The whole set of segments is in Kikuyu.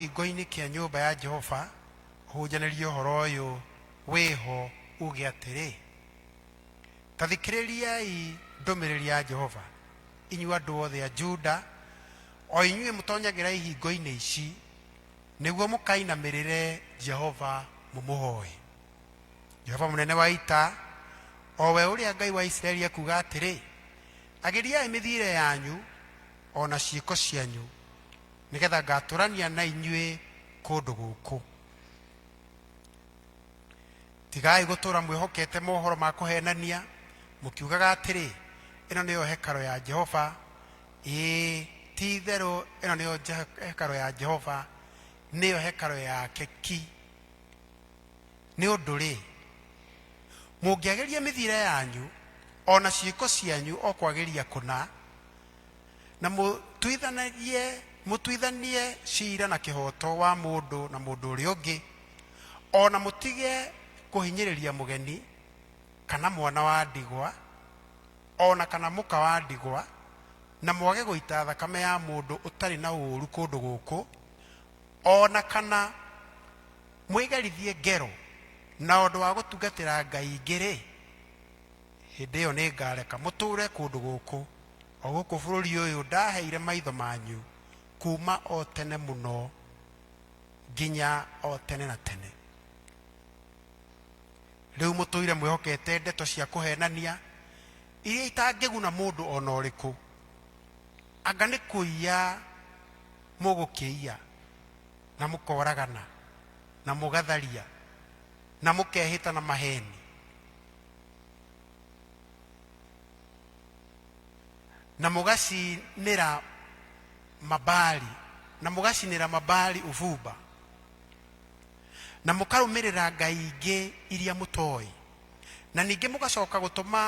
kĩhingo-inĩ kĩa nyũmba ya Jehova ũhunjanĩrie ũhoro ũyũ wĩho uge atĩrĩ, ta thikĩrĩriai ndũmĩrĩri ya Jehova, inyuĩ andũ othe a Juda, o inyuĩ mũtonyagĩra ihingo-inĩ ici, nĩguo mũkainamĩrĩre Jehova mũmũhoe. Jehova mũnene wa ita, o we ũrĩa Ngai wa Isiraeli ekuuga atĩrĩ, agĩriai mĩthiĩre yanyu o na ciĩko cianyu nĩ getha ngatũrania na inyuĩ kũndũ gũkũ tigai gũtũra mwĩhokete mohoro ma kũhenania mũkiugaga atĩrĩ ĩno nĩyo hekaro ya jehova ĩĩ ti itherũ ĩno nĩyo Je- hekaro ya jehova nĩyo hekaro yake ki nĩ ũndũ-rĩ mũngĩagĩria mĩthiĩre yanyu o na ciĩko cianyu o kwagĩria kũna na mũtuithanagie mũtuithanie cira na kĩhooto wa mũndũ na mũndũ ũrĩa ũngĩ o na mũtige kũhinyĩrĩria mũgeni kana mwana wa ndigwa o na kana mũka wa ndigwa na mwage gũita thakame ya mũndũ ũtarĩ na ũũru kũndũ gũkũ o na kana mwĩgerithie ngero na ũndũ wa gũtungatĩra ngai ingĩ-rĩ Hĩndĩ ĩyo nĩngareka mũtũũre kũndũ gũkũ, o gũkũ bũrũri ũyũ ndaheire maitho manyu kuuma o tene mũno nginya o tene na tene. Rĩu mũtũire mwĩhokete ndeto cia kũhenania iria itangĩguna mũndũ o na ũrĩkũ, anga nĩ kũiya mũgũkĩiya na mũkoragana na mũgatharia na mũkehĩta na maheni na mũgacinĩra mabali na mũgacinĩra mabali ũbumba na mũkarũmĩrĩra ngai ingĩ iria mũtoĩ na ningĩ mũgacoka gũtũma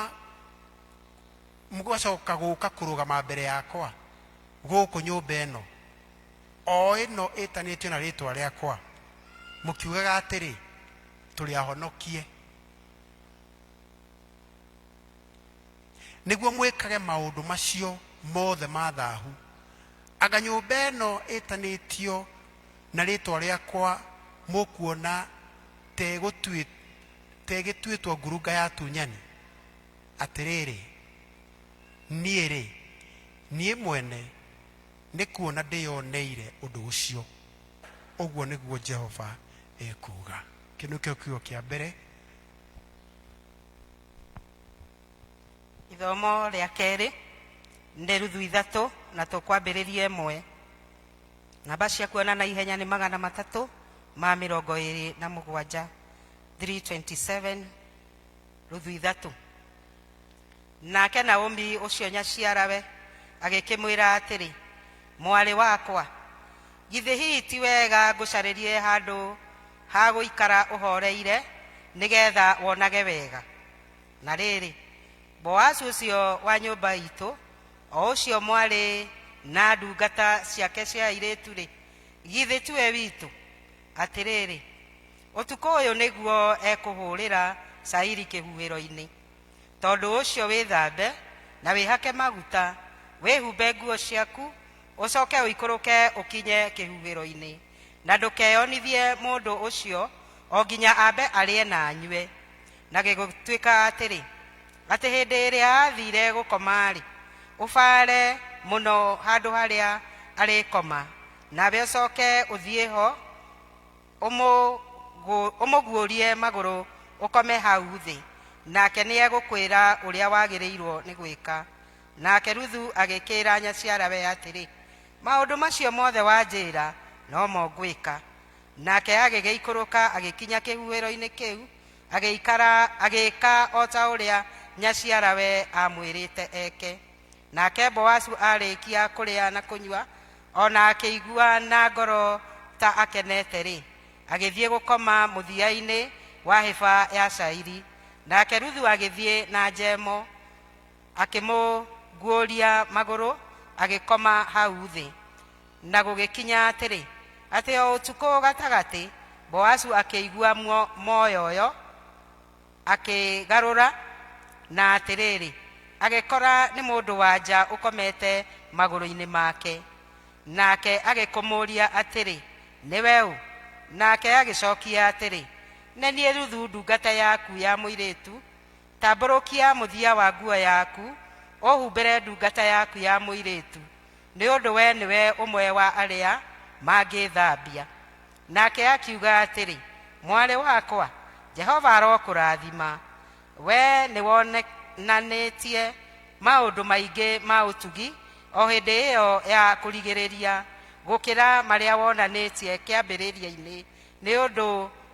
mũgacoka gũka kũrũgama mbere yakwa gũkũ nyũmba ĩno o ĩno ĩtanĩtio na rĩtwa rĩakwa mũkiugaga atĩrĩ tũrĩ ahonokie nĩguo mwĩkage maũndũ macio mothe ma thahu anga nyũmba ĩno ĩtanĩtio na rĩtwa rĩakwa mũkuona tegĩtuĩtwo ngurunga ya tunyani atĩrĩrĩ niĩ-rĩ niĩ mwene nĩ kuona ndĩyoneire ũndũ ũcio ũguo nĩguo jehova ekuga kä nä kä kiugo kä a mbere ithomo rĩa kerĩ nĩ ruthu ithatũ na tũkwambĩrĩria ĩmwe namba cia kuona na ihenya nĩ magana matatũ ma mĩrongo ĩrĩ na mũgwanja 327 ruthu ithatũ Nake Naomi ũcio nyaciarawe agĩkĩmwĩra atĩrĩ, Mwarĩ wakwa, githĩ hihi ti wega ngũcarĩrie handũ ha gũikara ũhooreire nĩ getha wonage wega? Na rĩrĩ, Boazu ũcio wa nyũmba iitũ, o ũcio mwarĩ na ndungata ciake cia airĩtu-rĩ, githĩ tiwe witũ? Atĩrĩrĩ, ũtukũ ũyũ nĩguo ekũhũũrĩra cairi kĩhuhĩro-inĩ. Tondũ ũcio wĩthambe, na wĩhake maguta, wĩhumbe nguo ciaku, ũcoke ũikũrũke ũkinye kĩhuhĩro-inĩ, na ndũkeyonithie mũndũ ũcio o nginya ambe arĩe na anyue. Na gĩgĩtuĩka atĩrĩ, atĩ hĩndĩ ĩrĩa aathiire gũkoma-rĩ, ũbaare mũno handũ harĩa arĩkoma, nawe ũcoke ũthiĩ ho, ũmũgũ- ũmũguũrie magũrũ ũkome hau thĩ, nake nĩegũkwĩra ũrĩa wagĩrĩirwo nĩ gwĩka. Nake Ruthu agĩkĩĩra nyaciarawe atĩrĩ, Maũndũ macio mothe wanjĩĩra no mo ngwĩka. Nake agĩgĩikũrũka agĩkinya kĩhuhĩro-inĩ kĩu, agĩikara agĩĩka o ta ũrĩa nyaciarawe aamwĩrĩte eke. Nake Boasu aarĩkia kũrĩa na kũnyua, o na akĩigua na ngoro ta akenete-rĩ, agĩthiĩ gũkoma mũthia-inĩ wa hĩba ya cairi. Nake Ruthu agĩthiĩ na Jemo, akĩmũguũria magũrũ, agĩkoma hau thĩ. Na gũgĩkinya atĩrĩ, atĩ o ũtukũ gatagatĩ, Boasu akĩigua muoyoyo. Akĩgarũra, na atĩrĩrĩ, agĩkora nĩ mũndũ wa nja ũkomete magũrũ-inĩ make. Nake agĩkũmũria atĩrĩ, Nĩ we ũ? Nake agĩcokia atĩrĩ, Nĩ niĩ Ruthu ndungata yaku ya mũirĩtu, tambũrũkia mũthia wa nguo yaku ũhumbĩre ndungata yaku ya mũirĩtu, nĩ ũndũ we nĩwe ũmwe wa arĩa mangĩĩthambia. Nake akiuga atĩrĩ, Mwarĩ wakwa, Jehova arokũrathima. Wee nĩwonanĩtie maũndũ maingĩ ma ũtugi o hĩndĩ ĩyo ya kũrigĩrĩria gũkĩra marĩa wonanĩtie kĩambĩrĩria-inĩ, nĩ ũndũ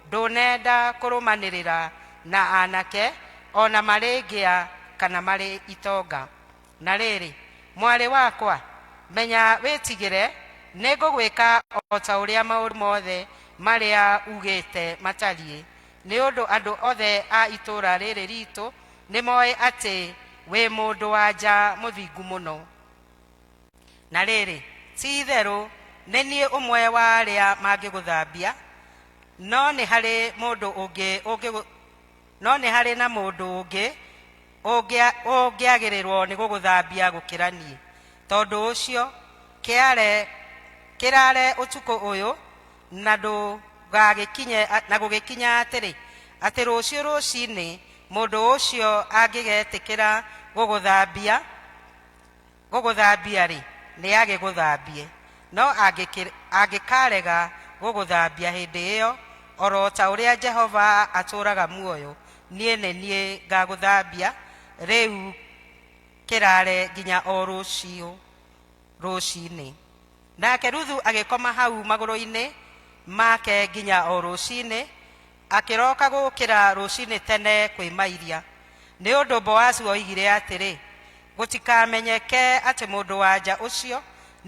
ndũnenda kũrũmanĩrĩra na anake, o na marĩ ngĩa kana marĩ itonga. Na rĩrĩ, mwarĩ wakwa, menya wĩtigĩre, nĩngũgwĩka o ta ũrĩa maũndũ mothe marĩa ugĩte matariĩ, nĩ ũndũ andũ othe a itũũra rĩrĩ riitũ nĩmoĩ atĩ wĩ mũndũ-wa-nja mũthingu mũno. Na rĩrĩ, ti-itherũ nĩ niĩ ũmwe wa arĩa mangĩgũthambia, no nĩ harĩ mũndũ ũngĩ ũngĩgũ, no nĩ harĩ na mũndũ ũngĩ Ũngĩ ũngĩagĩrĩrwo nĩ gũgũthambia gũkĩra niĩ. Tondũ ũcio, kĩare, kĩraare ũtukũ ũyũ, na ndũgagĩkinye, na gũgĩkinya atĩrĩ, atĩ rũciũ rũciinĩ mũndũ ũcio angĩgetĩkĩra gũgũthambia, Gũgũthambia-rĩ, nĩagĩgũthambie, no angĩkaarega gũgũthambia hĩndĩ ĩyo, o ro ta ũrĩa Jehova atũũraga muoyo, niĩ nĩ niĩ ngaagũthambia, rĩu kĩraare nginya o rũciũ rũcinĩ. Nake Ruthu agĩkoma hau magũrũ-inĩ make nginya o rũcinĩ. Akĩroka gũkĩra rũcinĩ tene kwĩmairia, nĩ ũndũ Boazu oigire atĩrĩ, Gũtikamenyeke atĩ mũndũ-wa-nja ũcio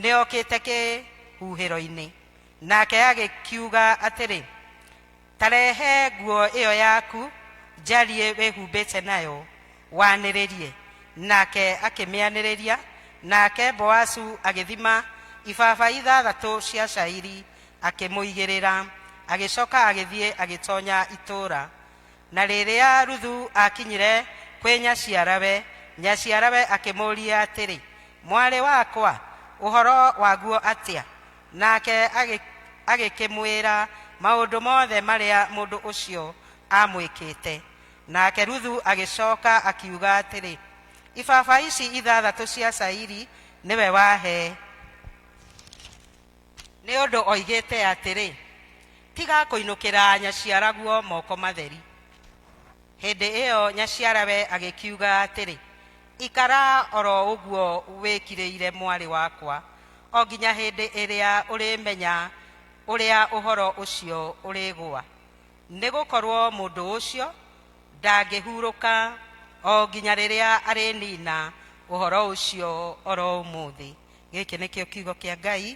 nĩokĩte kĩhuhĩro-inĩ. Nake agĩkiuga atĩrĩ, Ta rehe nguo ĩyo yaku njariĩ wĩhumbĩte nayo, wanĩrĩrie. Nake akĩmĩanĩrĩria, nake Boazu agĩthima ibaba ithathatũ cia cairi akĩmũigĩrĩra agĩcoka agĩthiĩ agĩtonya itũũra na rĩrĩa ruthu akinyire kwĩ nyaciarawe nyaciarawe akĩmũũria atĩrĩ mwarĩ wakwa ũhoro waguo atĩa nake agĩ- agĩkĩmwĩra maũndũ mothe marĩa mũndũ ũcio amwĩkĩte nake ruthu agĩcoka akiuga atĩrĩ ibaba ici ithathatũ cia cairi nĩwe wahe nĩ ũndũ oigĩte atĩrĩ, Tiga kũinũkĩra nyaciaraguo moko matheri. Hĩndĩ ĩyo nyaciarawe agĩkiuga atĩrĩ, Ikara o ro ũguo wĩkirĩire mwarĩ wakwa, o nginya hĩndĩ ĩrĩa ũrĩmenya ũrĩa ũhoro ũcio ũrĩgũa, nĩ gũkorũo mũndũ ũcio ndangĩhurũka o nginya rĩrĩa arĩniina ũhoro ũcio o ro ũmũthĩ. gĩkĩ nĩkĩo kiugo kĩa ngai